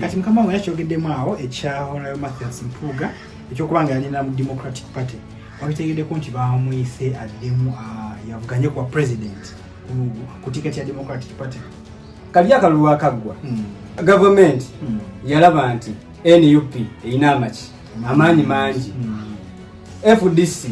kati mukama wange yakyogeddemu awo ekya honayo mathias mpuuga ekyokuba nga yalina mu democratic party wabitegeddeko nti bamuyise addemu ah, yavuganye kuwa president ku tiketi ya democratic party kalya akalulu akaggwa hmm. gavumenti hmm. yalaba nti nup erina amaki amaanyi mangi hmm. fdc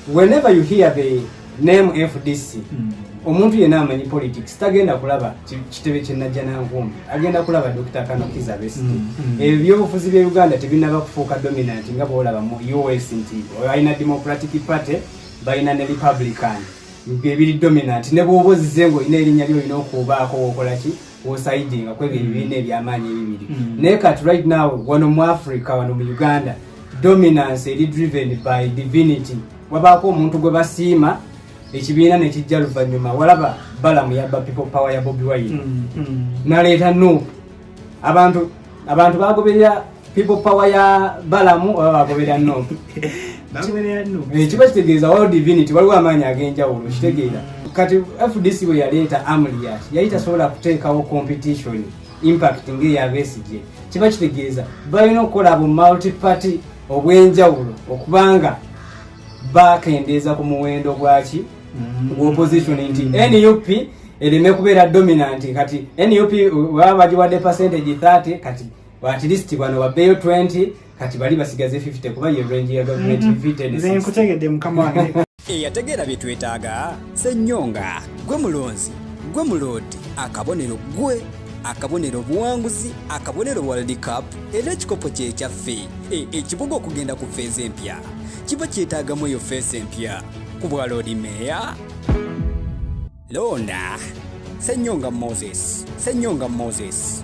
Whenever you hear the name FDC mm. omuntu yena amanyi politics tagenda kulaba kitebe kyenajja nankumbi agenda kulaba dr kanokiza best mm, mm. ebyo byobufuzi bya uganda tebinaba kufuuka dominant nga bwolaba mu us nti balina democratic party balina ne republican byebiri dominant ne bwoba ozize nga olina erinnya lyolina okuubaako wokolaki osaidinga kwebyo mm. ebibiina ebyamaanyi ebibiri mm. naye kati right now wano mu africa wano mu uganda dominance eri driven by divinity wabaako omuntu gwe basiima ekibiina nekijja luvanyuma walaba balamu yabba people power ya bobi wine mm, naleeta nup abantu abantu bagoberera people power ya balamu oba bagoberera nup eh, kiba kitegeeza wal divinity waliwo amaanyi ag'enjawulo kitegeera kati fdc bwe yaleeta amliat yali tasobola kuteekawo competition impact ngeeya besigye kiba kitegeeza balina okukola bu multiparty obw'enjawulo okubanga bakendeeza ku muwendo gwaki mm-hmm. gw'opposition nti nup ereme kubeera dominant kati nup baba bagiwadde percentage 30 kati at least bano babbeeyo 20 kati bali basigaze 50 kuba ye range ya government 50 mm-hmm. ne nkutegedde mukama wange eyategeera bye twetaaga senyonga gwe mulonzi gwe muloodi akabonero gwe akabonero obuwanguzi akabonero world cup era ekikopo kyekyaffe e, ekibuga okugenda ku feeza empya kiba kyetaagamu eyo feesa empya ku bwa loodi meeya londa senyonga moses senyonga moses